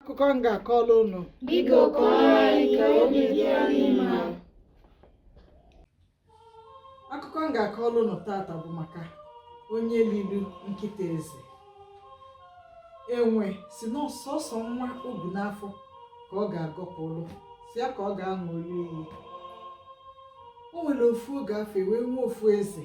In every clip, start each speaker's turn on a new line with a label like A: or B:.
A: akụkọ m ga-akọrọ unu
B: Biko kọọrọ anyị ka obi dị anyị
A: mma. akụkọ m ga-akọrọ unu taata bụ maka onye liri nkịta eze enwe sị na sọsọ nwa o bu n'afọ ka ọ ga-agọpụrụ sọ ya ka ọ ga-aṅụrụ iyi o nwere ofu oge afụ wee nwee ofu eze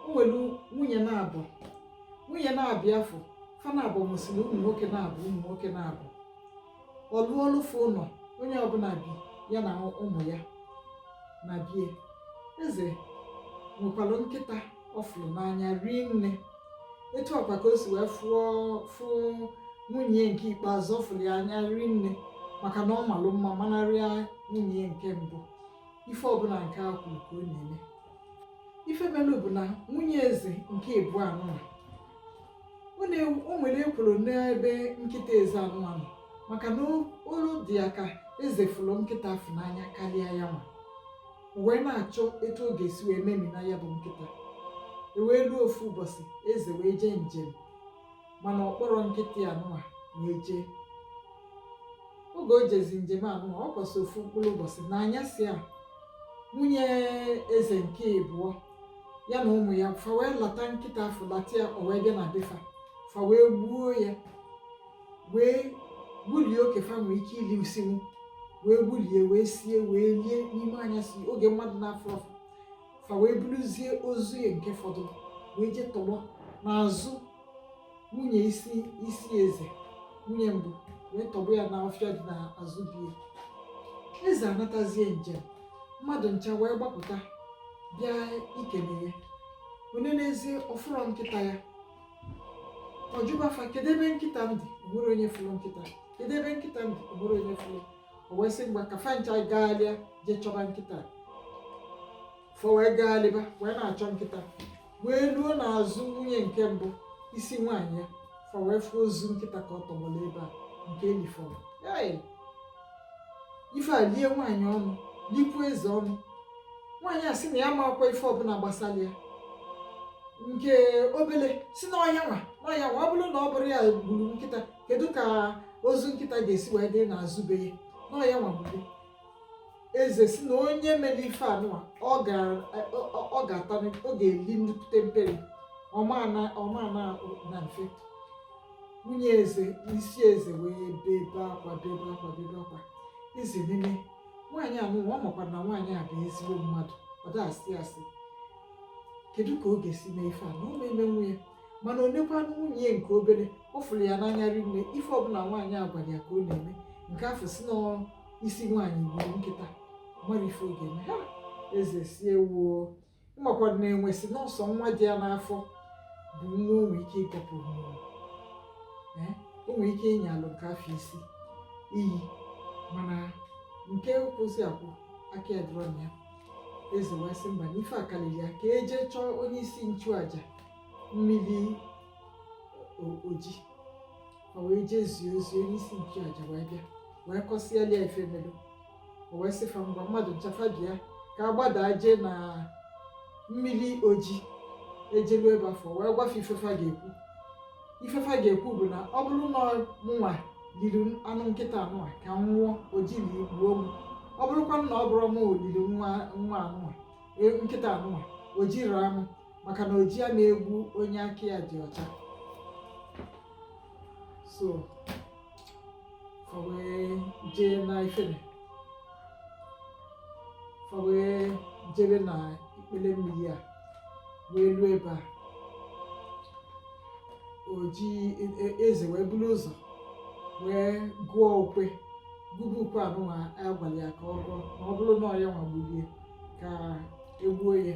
A: o nwere nwunye naabọ nwunye naabọ afụ fa naabọ mụsịrị ụmụ nwoke naabọ ụmụ nwoke naabọ ọ lụọlụ fa ụlọ onye ọbụla bi ya na ụmụ ya na be ya eze nwekwara nkịta ọ fụrụ n'anya rie nne etu a kwa ka o si wee fụ nwunye ya nke ikpeazụ ọ fụrụ ya n'anya rie nne maka na ọ malụ mma manarịa nwunye ya nke mbụ ife ọbụla nke a kwuru ka ọ na-eme ife melụ bụ na nwunye eze nke ịbụọ anụwa na o nwere ekworo n'ebe nkịta eze anụwa nọ maka na olu dị ya ka eze fụrụ nkịta afụ n'anya karịa ya nwa wee na-achọ etu ọ ga-esi wee memina ya bụ nkịta e wee ruo ofu ụbọchị eze wee jee njem mana ọ kpọrọ nkịta ya anụwa wee jee oge o jezi njem anụwa ọ kwụsị ofu mkpụrụ ụbọchị na anyasị a nwunye eze nke ịbụọ ya na ụmụ ya fa wee lata nkịta afụ lata ya o wee bịa na be fa fa wee gbuo ya wee gbulie oke fa nwee ike ilisinwu wee gbulie wee sie wee lie n'ime anyasị oge mmadụ na-afụrọ fa fa wee buruzie ozu ya nke fọdụ wee jee tọgbọ n'azụ nwunye isi eze nwunye mbụ wee tọgbọ ya n'ọfịa dị n'azụ be ya eze anatazie njem mmadụ ncha wee gbapụta bịa ikele ya o nenezie ọ fụrọ nkịta ya ọ jụba fa kedu ebe nkịta m dị o nwere onye fụrụ nkịta kedu ebe nkịta m dị o nwere onye fụrụ o wee sị mba ka fa ncha gaalịa jee chọba nkịta fa wee gaalịba wee na-achọ nkịta wee ruo n'azụ nwunye nke mbụ isi nwaanyị ya fa wee fụ ozu nkịta ka ọ tọgbọrọ ebe a nke e lifọrọ ife a lie nwaanyị ọnụ likwu eze ọnụ nwaanyị a sị na ya amakwa ife ọbụla gbasara ya nke obele sị na ọ ya nwa na ọ ya nwa ọ bụrụ na ọ bụrọ ya gburu nkịta kedu ka ozu nkịta ga-esi wee dị n'azụ be ya na ọ ya nwa gburu eze sị na onye mere ife anụwa ọ ga-ata ọ ga-eli nnukwute mperi ọ ma-ana mfe nwunye eze isi eze wee bebe akwa bebe akwa bebe akwa eze nenee nwaanyị anụwa ọ makwara na nwaanyị a bụ ezigbo mmadụ ọ da-asị asị kedu ka ọ ga-esi mee ife a na ọ ma-emenwu ya mana o nekwanụ nwunye nke obere ọ fụrụ ya n'anya rinne ife ọbụla nwaanyị a gwara ya ka ọ na-eme nke afụ sị n'isi nwaanyị gburu nkịta mara ife ọ ga-eme ya eze sị ewuo makwara na enwe sị na ọ sọ nwa dị ya n'afọ bụ nwa o nwere ike ịkọpụ mmụọ Ee, o nwere ike ịnyalụ nke afọ isi iyi mana nke kwọsị akwọ aka ya dịrọ na ya eze wee sị mba na ife a karịrị ya ka e jee chọọ onye isi nchụaja mmiri oji o wee jee zie ozi onye isi nchụaja wee bịa wee kọsịala ya ife melu o wee sị fa ngwa mmadụ ncha fa bịa ka a gbadaa jee na mmiri oji e jelu ebe afụ wee gwa fa ife fa ga-ekwu ife fa ga-ekwu bụ na ọ bụrụ na mụnwa liri anụ nkịta anụnwa ka m nwụọ oji nya gbuo m ọ bụrụkwa na ọ bụrọ m liri nwa anụnwa e, nkịta anụnwa oji raa m maka na oji ana egbu onye aka ya dị ọcha so fa wee jee na ifere fa wee jebe na ikpele mmiri a wee ruo ebe a oji e- e- eze wee buru ụzọ wee gụọ ukwe gụba ukwe anụnwa a gwara ya ka ọ gụọ ma ọ bụrụ na ọ ya nwa gburu ya ka e gbuo ya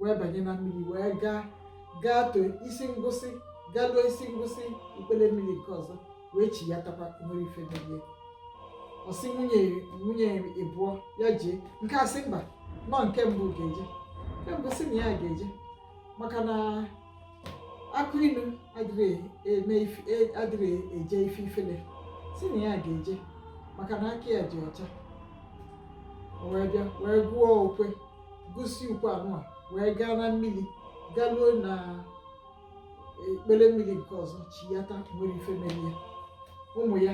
A: wee banye na mmiri wee gaa gaa too isi ngwụsị galuo isi ngwụsị ikpele mmiri nke ọzọ wee chiyatakwa nwerọ ife melu ya ọ sị nwunye nwunye ịbụọ ya jee nke a sị mba na ọ nke mbụ ga-eje nke mbụ sị na ya ga-eje maka na akụ ilu adịrị eme e, adịrị eje ife ifele sị na ya ga-eje maka na aka ya dị ọcha o wee bịa wee gụọ ukwe gụsịa ukwe anụnwa wee gaa na mmiri garuo na ikpele mmiri nke ọzọ chiyata nwerọ ife melu ya ụmụ ya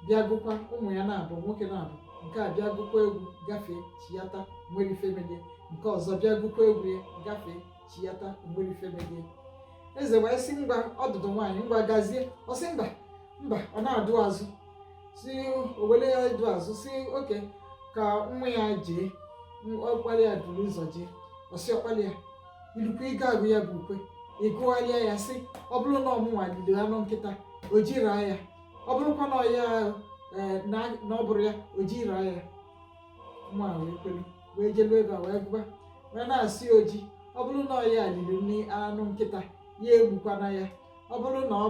A: bịa gụkwa ụmụ ya naabọ nwoke naabọ nke a bịa gụkwa egwu gafee chiyata nwerọ ife melu ya nke ọzọ bịa gụkwa egwu ya gafee chiyata nwerọ ife melu ya eze wee sị ngwa ọdụdụ nwaanyị ngwa gazie ọ sị mba mba ọ na-adụ azụ si owele ya dụ azụ sị okay ka nwa ya jee ọkpala ya buru ụzọ jee ọ sị ọkpala ya i lukwa ị ga-agụ ya bụ ukwe ị gụgharịa ya sị ọ bụrụ na ọ mụnwa liri anụ nkịta oji raa ya ọ bụrụkwa na ya eh, na ọ bụrọ ya oji raa ya nwa wee kwere wee jelu ebe a wee gụba wee na-asị oji ọ bụrụ na ọ ya liri nri anụ nkịta ya egbukwana ya ọ bụrụ na ọ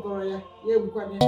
A: bụrọ ya ya egbukwana ya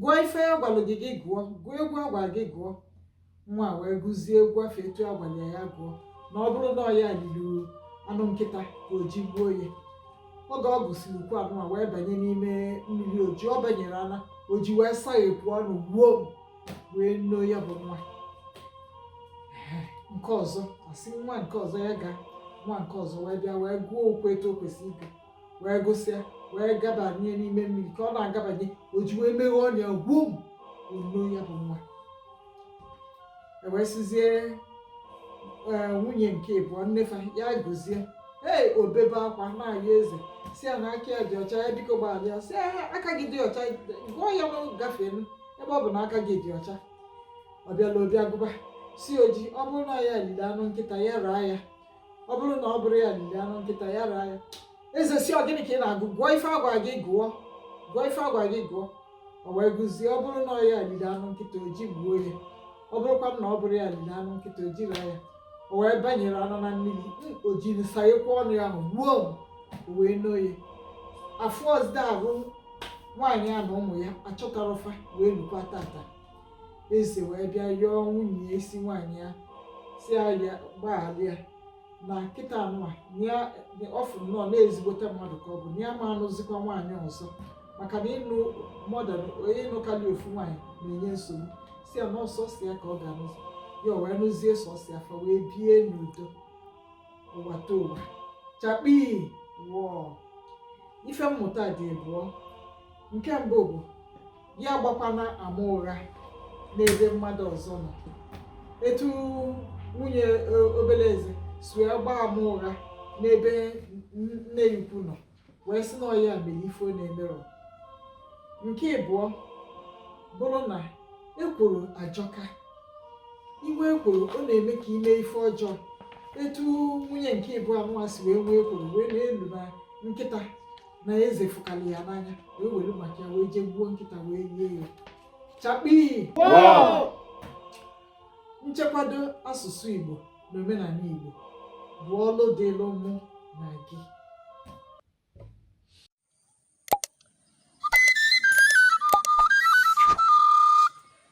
A: gụọ ife a gwalụ gị gị gụọ gụọ egwu a gwara gị gụọ nwa a wee gụzie egwu afụ etu a gwara ya ya gụọ na ọ bụrụ na ọ ya liri anụ nkịta ka oji gbuo ya oge ọ gụsịrị ukwe anụwa wee banye n'ime mmiri oji ọ banyere ana oji wee saghepụ ọnụ gbuo wee noo ya bụ nwa nke ọzọ a sị nwa nke ọzọ ya gaa nwa nke ọzọ wee bịa wee gụọ ukwe etu o kwesịrị ịgụ wee gụsịa wee gabanye n'ime mmiri ka ọ na-agabanye oji wee meghe ọnụ ya gbuo noo ya bụ nwa e wee sịzie eh, nwunye nke ịbụọ nne fa ya gụzie ee o bebe akwa na-ayọ eze sị ya na aka ya dị ọcha ya biko gbaghara ya sị ya aka gị dị ọcha gụọ ya na gafee ebe ọ bụ na aka gị dị ọcha ọ bịala obi agụba sị oji ọ bụrụ na ya liri anụ nkịta ya raa ya ọ bụrụ na ọ bụrọ ya liri anụ nkịta ya raa ya eze sị ọ gịnị ka ị na-agụ gụọ ife a gwa gị gụọ gụọ ife a gwa gị gụọ o wee gụzie ọ bụrụ na ọ ya liri anụ nkịta oji gbuo ya ọ bụrụkwa na ọ bụrọ ya liri anụ nkịta oji raa ya o wee banyere anụ na mmiri oji wee saghekwa ọnụ ya ahụ gbuo o wee noo ya a fụrọzi arụ nwaanyị a na ụmụ ya achọtarọ fa wee lukwa tata eze wee bịa yọọ nwunye ya isi nwaanyị ya sị ya gbaghara ya na kịta anụwa ọ fụ nnọọ na ezigbote mmadụ ka ọ bụ na ya ma anụzikwa nwaanyị ọzọ maka na ịnụ more than ịnụ karịa ofu nwaanyị na-enye nsogbu sị ya na ọ sọsọ ya ka ọ ga-anụzi ya o wee nụzie sọsọ ya fa wee bie n'udo ụwatụwa chakpii wọọ ife mmụta dị abụọ nke mbụ bụ ya agbakwana ama ụgha n'ebe mmadụ ọzọ nọ etu nwunye e, obere eze si wee gbaa ama ụgha n'ebe nne ya ukwu nọ wee sị na ọ ya mere ife ọ na-emerọ nke ịbụọ bụrụ na ekworo ajọka i nwee ekworo ọ na-eme ka i mee ife ọjọọ etu nwunye nke ịbụọ anụwa si wee nwee ekworo wee na-elo na nkịta na eze fụkarị ya n'anya wee were maka ya wee jee gbuo nkịta wee rie ya chakpii nchekwado asụsụ igbo na omenanị igbo bụ ọlụ dịlụ mụ na gị